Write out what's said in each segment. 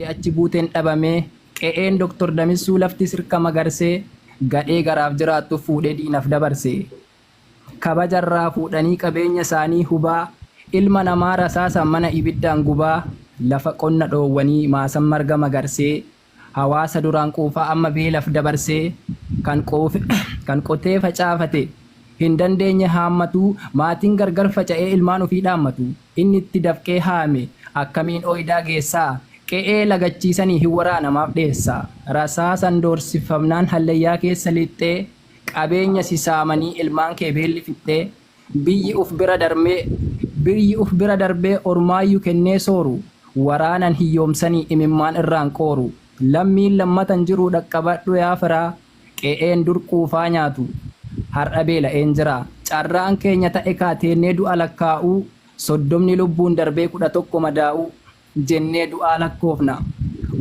Achi buuteen dhabamee, qe'een Doktor Damissuu lafti sirka magarsee, gadhee garaaf jiraattu fuudhee diinaf dabarse. Kabaja irraa fuudhanii qabeenya isaanii hubaa, ilma namaa rasaasaan mana ibiddaan gubaa, lafa qonna dhoowwanii maasan marga magarsee, hawaasa duraan quufaa amma beelaf dabarsee, kan qotee facaafate, hin dandeenye haammatu, maatiin gargar faca'ee ilmaan ofii dhaammatu, inni itti dafqee haame akkamiin ooydaa geessa? Qe'ee lagachiisanii hin waraana maaf dheessa? Rasaasan doorsifamnaan hallayyaa keessa lixxee, qabeenya si saamanii ilmaan kee beelli fixxee, biyyi uf bira darmee, biyyi uf bira darbee ormaayyu kennee sooru, waraanan hiyyoomsanii imimmaan irraan qooru, lammiin lammata hin jiru dhaqqabadhu yaa firaa, Qe'een dur quufaa nyaatu har'a beela'een jira. Carraan keenya ta'e kaa teennee du'a lakkaa'uu, soddomni lubbuun darbee kudha tokko madaa'uu jennee du'aa lakkoofna.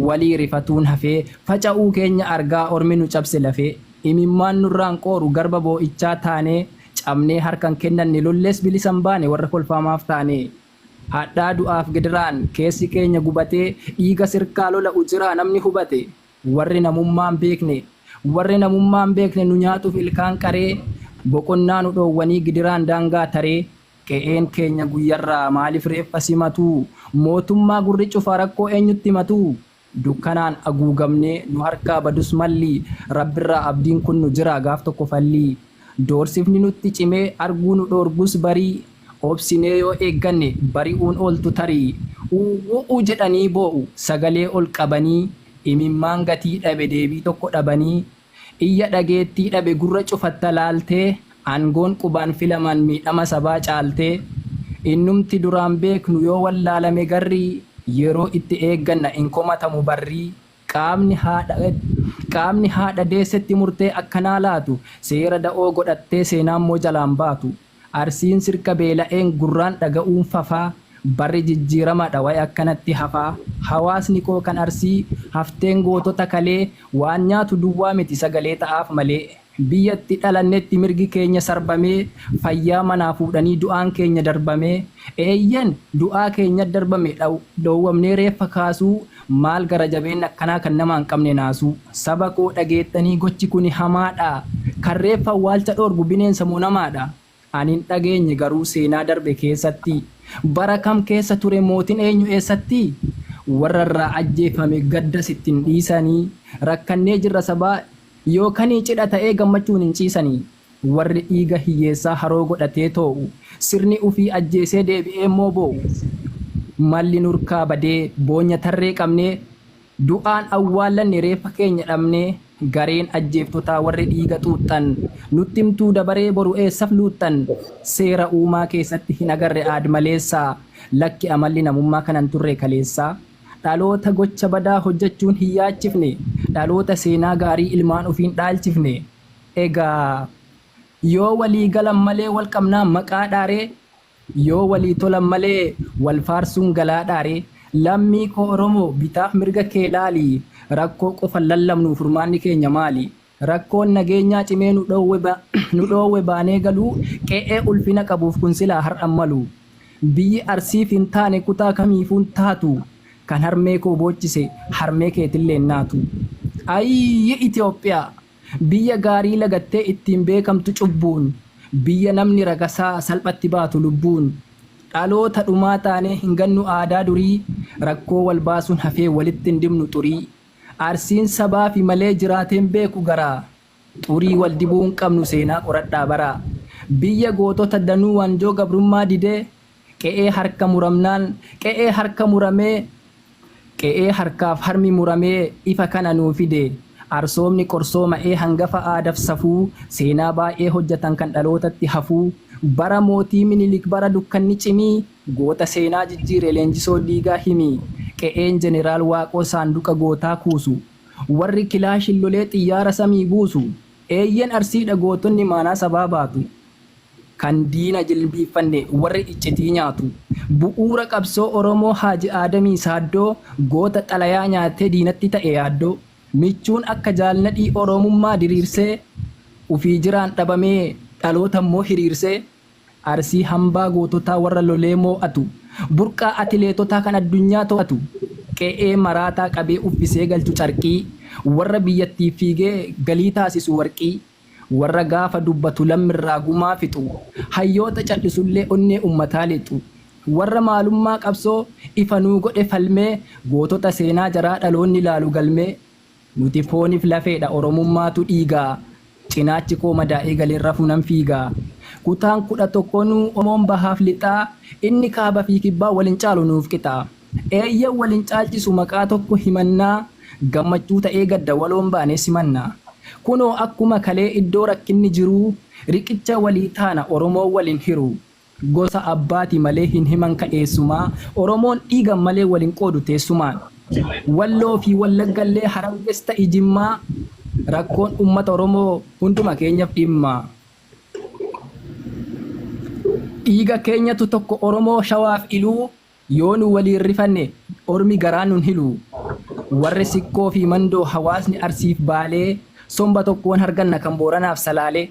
Walii rifatuun hafee faca'uu keenya argaa ormi nu cabse lafee. Imimmaan nurraan qooru garba boo'ichaa taanee cabnee harka hin kennanne lollees bilisa hin baane warra kolfaa maaf taanee. Hadhaa du'aaf gidiraan keessi keenya gubatee dhiiga sirkaa lola'u jiraa namni hubate. Warri namummaa hin beekne, Warri namummaa hin beekne nu nyaatuuf ilkaan qaree, Boqonnaa nu dhoowwanii gidiraan daangaa taree, Qe'een keenya guyyarraa maaliif reeffa simatu, Mootummaa gurri cufa rakkoo eenyutti himatu, Dukkanaan aguugamnee nu harkaa badus malli, Rabbirraa abdiin kunnu jiraa gaaf tokko falli. Doorsifni nutti cimee arguu nu dhoorgus barii Obsinee yoo eegganne bari'uun ooltu tarii Uuwwu'u jedhanii boo'u sagalee ol qabanii Imimmaan gatii dhabe deebii tokko dhabanii Iyya dhageettii dhabe gurra cufatta laaltee Aangoon qubaan filamaan miidhama sabaa caaltee Innumti duraan beeknu yoo wallaalame garrii Yeroo itti eegganna hin komatamu barrii Qaamni haadha deessetti murtee akkanaa laatu seera da'oo godhattee seenaammoo jalaan baatu. Arsiin sirka beela'een gurraan dhaga'uun fafaa. Barri jijjiiramadha wayi akkanatti hafaa. Hawaasni koo kan Arsii hafteen gootota kalee waan nyaatu duwwaa miti sagalee ta'aaf malee. Biyya itti dhalannetti mirgi keenya sarbamee, fayyaa manaa fuudhanii du'aan keenya darbamee, eeyyen du'aa keenya darbame dhoowwamnee reeffa kaasuu, maal gara jabeenna akkanaa kan namaa hin qabne naasuu. Saba koo dhageettanii gochi kuni hamaadha. Kan reeffa awwaalcha dhoorgu bineensa moo namaadha? Ani hin dhageenye garuu seenaa darbe keessatti bara kam keessa ture mootin eenyu eessatti warra irraa ajjeefame gaddas itti hin dhiisani rakkannee jirra sabaa yoo kanii cidha ta'ee gammachuun hin ciisani warri dhiiga hiyyeessaa haroo godhatee too'u sirni ufii ajjeesee deebi'ee immoo boo'u malli nurkaa badee boonya tarree qabnee Du'aan awwaallanne reeffa keenya dhabnee Gareen ajjeeftotaa warri dhiiga xuuxxan Nutti himtuu dabaree boru eessaf luuxxan Seera uumaa keessatti hin agarre aadmaleessa Lakki amalli namummaa kana hin turre kaleessa Dhaloota gocha badaa hojjachuun hin yaachifne Dhaloota seenaa gaarii ilmaan ofiin dhaalchifne Egaa yoo walii galan malee wal qabnaa maqaa dhaaree Yoo walii tolan malee wal faarsuun galaadhaa ree? Lammii koo Oromoo bitaaf mirga kee laali. Rakkoo qofan lallabnuu furmaanni keenya maali? Rakkoon nageenyaa cimee nu dhoowwe nu dhoowwe baanee galuu qe'ee ulfina qabuuf kun silaa har'a hin malu. Biyyi Arsiif hin taane kutaa kamiifuu hin taatu. Kan harmee koo boochise harmee keetillee hin naatu. Ayii Itoophiyaa! Biyya gaarii lagattee ittiin beekamtu cubbuun, Biyya namni ragasaa salphatti baatu lubbuun, Dhaloota dhumaa taanee hin gannu aadaa durii, Rakkoo wal baasuun hafee walitti hin dibnu xurii, Arsiin sabaafi malee jiraatee hin beeku garaa, Xurii wal dibuu hin qabnu seenaa qoradhaa baraa, Biyya gootota danuu waanjoo gabrummaa didee, Qe'ee harka muramnaan qe'ee harka muramee Qe'ee harkaaf harmi muramee ifa kana nuu fide. Arsoomni qorsooma'ee hangafa aadaf safuu seenaa baay'ee hojjatan kan dhalootatti hafuu Bara mootii Minilik bara dukkanni cimii Goota seenaa jijjiire Leenjisoo Diigaa himii Qe'een Jeneraal Waaqoo saanduqa gootaa kuusu Warri kilaashin lolee xiyyaara samii buusu Eeyyen Arsiidha gootonni maanaa sabaa baatu Kan diina jilbiiffanne warri iccitii nyaatu. Bu'uura qabsoo Oromoo Haaji Aadamii Saaddoo goota xalayaa nyaatee diinatti ta'e yaaddoo. Michuun akka Jaal Nadhii Oromummaa diriirsee Ufii jiraan dhabamee dhaloota immoo hiriirsee. Arsii hambaa goototaa warra lolee moo'atu. Burqaa atileetotaa kan addunyaa too'atu. Qe'ee maraataa qabee uffisee galchu carqii. Warra biyyattiif fiigee galii taasisu warqii. Warra gaafa dubbatu lammirraa gumaa fixu, hayyoota cal'isullee onnee ummataa lixu, warra maalummaa qabsoo ifa nuu godhe falmee gootota seenaa jaraa dhaloonni laalu galmee. Nuti fooniif lafeedha Oromummaatu dhiiga, cinaachi koo madaa'ee galeen rafu nan fiiga. Kutaan 11 nuu Oromoon bahaaf lixaa, inni kaabafii kibbaa wal hin caalu nuuf qixa. Eeyyen wal hin caalchisu maqaa tokko himannaa Gammachuu ta'ee gadda waloon baanee simanna Kunoo akkuma kalee iddoo rakkinni jiruu Riqicha walii taana Oromoon wal hin hiru Gosa abbaati malee hin himanka eessumaa Oromoon dhiigan malee wal hin qoodu teessumaan Walloo fi Wallaggallee Hararges ta'i Jimmaa Rakkoon ummata Oromoo hunduma keenyaf dhimma Dhiiga keenyatu tokko Oromoo Shawaaf Iluu Yoo nu waliin rifanne ormi garaa nun hilu. Warri Sikkoo fi Mandoo hawaasni Arsiif Baalee somba tokkoon harganna kan Booranaaf Salaalee.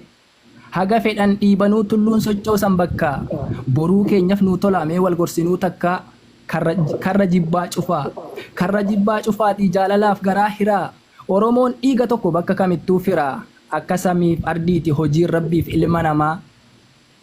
Haga fedhan dhiibanuu tulluun sochoosan bakkaa. Boruu keenyaf nuu tolaa mee wal gorsinuu takkaa. Karra karra jibbaa cufaa. Karra jibbaa cufaatii jaalalaaf garaa hiraa. Oromoon dhiiga tokko bakka kamittuu firaa. Akka samiif ardiiti hojiin Rabbiif ilma namaa.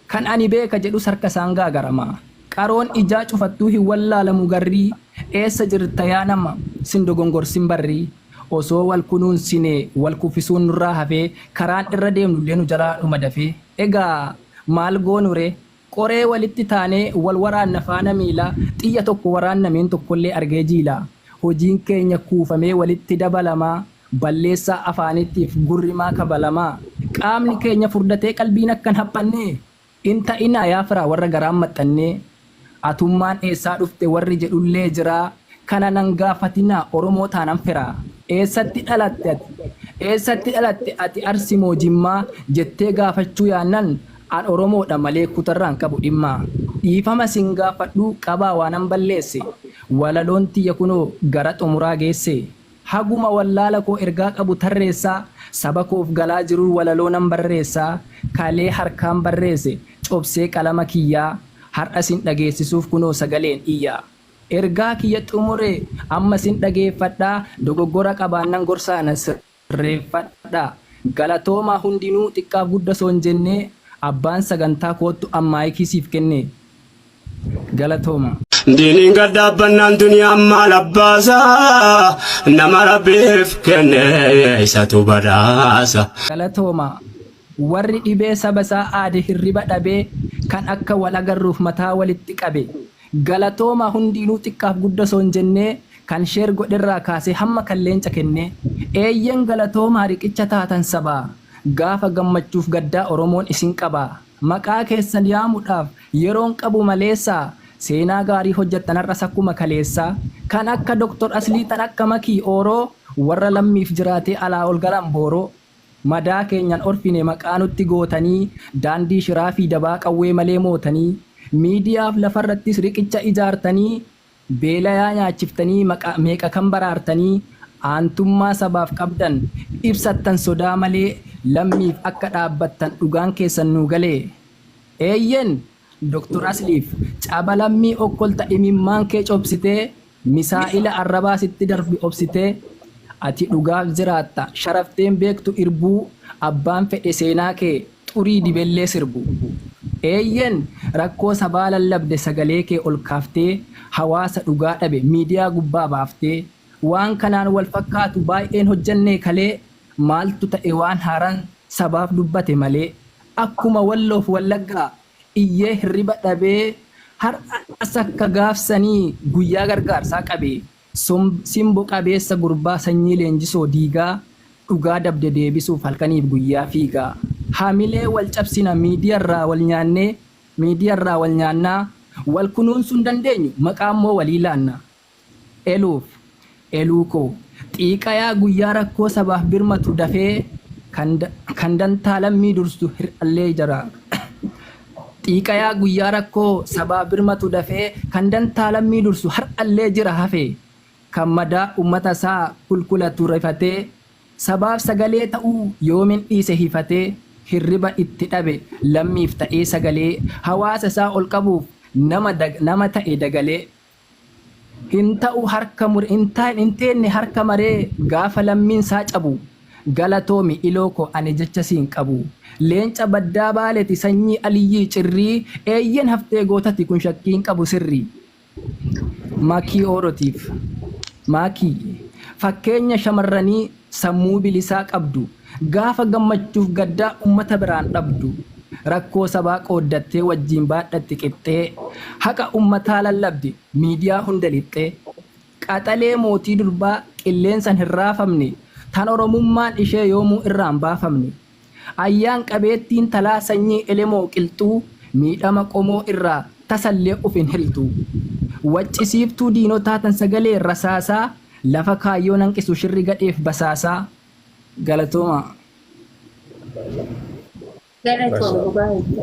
Kan ani beeka jedhus harka isaan gaagarama. Qaroon ijaa cufattuu hin wallaalamu garrii Eessa jirta yaa nama sin dogongorsin barri Osoo wal kunuunsine wal kuffisuun nurraa hafee Karaan irra deemnullee nu jalaa dhuma dafee Egaa maal goonuree Qoree walitti taanee wal waraanna faana miila Xiyya tokko waraanna meen tokkollee argee jiila Hojiin keenya kuufamee walitti dabalamaa Balleessaa afaaniitiif gurri maa kabalama? Qaamni keenya furdatee qalbiin akka hin haphanne hin ta'inaa yaa firaa warra garaan maxxannee. Atummaan eessaa dhufte warri jedhullee jira, kana nan gaafatinaa Oromoo taanan firaa. Eessatti dhalatte ati? Eessatti dhalatte ati Arsi moo Jimmaa? jettee gaafachuu yaannan an Oromoodha malee kutarraa hin qabu dhimma. Dhiifama sin gaafadhuu qabaa waanan balleesse? Walaloon tiyya kunoo gara xumuraa geesse. Haguma wallaala koo ergaa qabu tarreessaa Saba koof galaa jiruu walaloo nan barreessaa Kalee harkaan barreese cobsee qalama kiyyaa Har'a sin dhageessisuuf kunoo sagaleen iyyaa Ergaa kiyya xumuree amma sin dhageeffadhaa Dogoggora qabaannan gorsaa na sirreeffadhaa Galatoomaa hundinuu xiqqaaf gudda soon jennee Abbaan sagantaa koottu an maayikii siif kennee. Galatooma. Diiniin gad dhaabbannaan duniyaan maal abbaasa nama rabbiif kenne isatu badhaasa. Galatooma. Warri dhibee saba isaa aade hirriba dhabee kan akka wal agarruuf mataa walitti qabe. Galatooma hundiinuu xiqqaaf gudda osoo hin jennee kan share godherraa kaasee hamma kan leenca kennee. Eeyyen galatoomaa riqicha taatan sabaa gaafa gammachuuf gaddaa oromoon isin qabaa. Maqaa keessan yaamudhaaf yeroon qabu maleessaa seenaa gaarii hojjattan har'as akkuma kaleessaa kan akka Doktor Aslii tan akka Makii Ooroo warra lammiif jiraatee alaa ol galan booroo madaa keenyan orfine maqaa nutti gootanii daandii shiraa fi dabaa qawwee malee mootanii miidiyaaf lafarrattis riqicha ijaartanii Beelayaa nyaachiftanii maqaa meeqa kan baraartanii aantummaa sabaaf qabdan ibsattan sodaa malee lammiif akka dhaabbattan dhugaan keessan nuu galee. Eeyyen Dr. Asliif caba lammii okkolta imimmaan kee cobsitee misaa'ila arrabaa sitti darbe obsitee ati dhugaaf jiraatta sharaftee hin beektu irbuu abbaan fedhe seenaa kee xurii dibellee sirbu. Eeyyeen rakkoo sabaa lallabde sagalee kee ol kaaftee hawaasa dhugaa dhabe miidiyaa gubbaa baaftee waan kanaan wal fakkaatu baay'een hojjannee kalee maaltu ta'e waan haaraan sabaaf dubbate malee akkuma walloof wallaggaa iyyee hirriba dhabee har'as akka gaaf sanii guyyaa gargaarsaa qabee Simbo qabeessa gurbaa sanyii leenjisoo diigaa dhugaa dabde deebisuuf halkaniif guyyaa fiigaa hamilee wal cabsina miidiyarraa wal nyaannee miidiyarraa wal nyaannaa wal kunuunsuu hin dandeenyu maqaammoo walii laanna eluuf eluukoo xiiqayaa guyyaa rakkoo sabaaf birmatu dafee kan dantaa lammii dursu hir'allee jaraa Xiiqayaa guyyaa rakkoo sabaa birmatu dafee kan dantaa lammii dursu har'allee jira hafee kan madaa ummata isaa kulkulatu rifatee sabaaf sagalee ta'uu yoomin dhiise hifatee hirriba itti dhabe lammiif ta'ee sagalee hawaasa isaa ol qabuuf nama ta'e dagalee Hin ta'u harka mure hin taa'in hin teenne harka maree gaafa lammiin saa cabu Galatoomi iloo koo ani jecha siin qabu Leenca baddaa baaleti sanyii Aliyyii cirrii Eeyyen haftee gootati kun shakkii hin qabu sirri Makii Oorotiif Maakii fakkeenya shamarranii Sammuu bilisaa qabdu, gaafa gammachuuf gaddaa ummata biraan dhabdu, rakkoo sabaa qooddattee wajjiin baadhatti qixxee, haqa ummataa lallabdi miidiyaa hunda lixxee, qaxalee mootii durbaa qilleensan hin raafamne, tan Oromummaan ishee yoomuu irraan baafamne. Ayyaan qabeettiin talaa sanyii elemoo qilxuu miidhama qomoo irraa tasallee uf hin hiltuu. Waccisiiftuu diinotaa tan sagalee rasaasaa lafa kaayyoo nanqisu shirri gadheef basaasaa. Galatoomaa. Galatoomi dhugaa jette.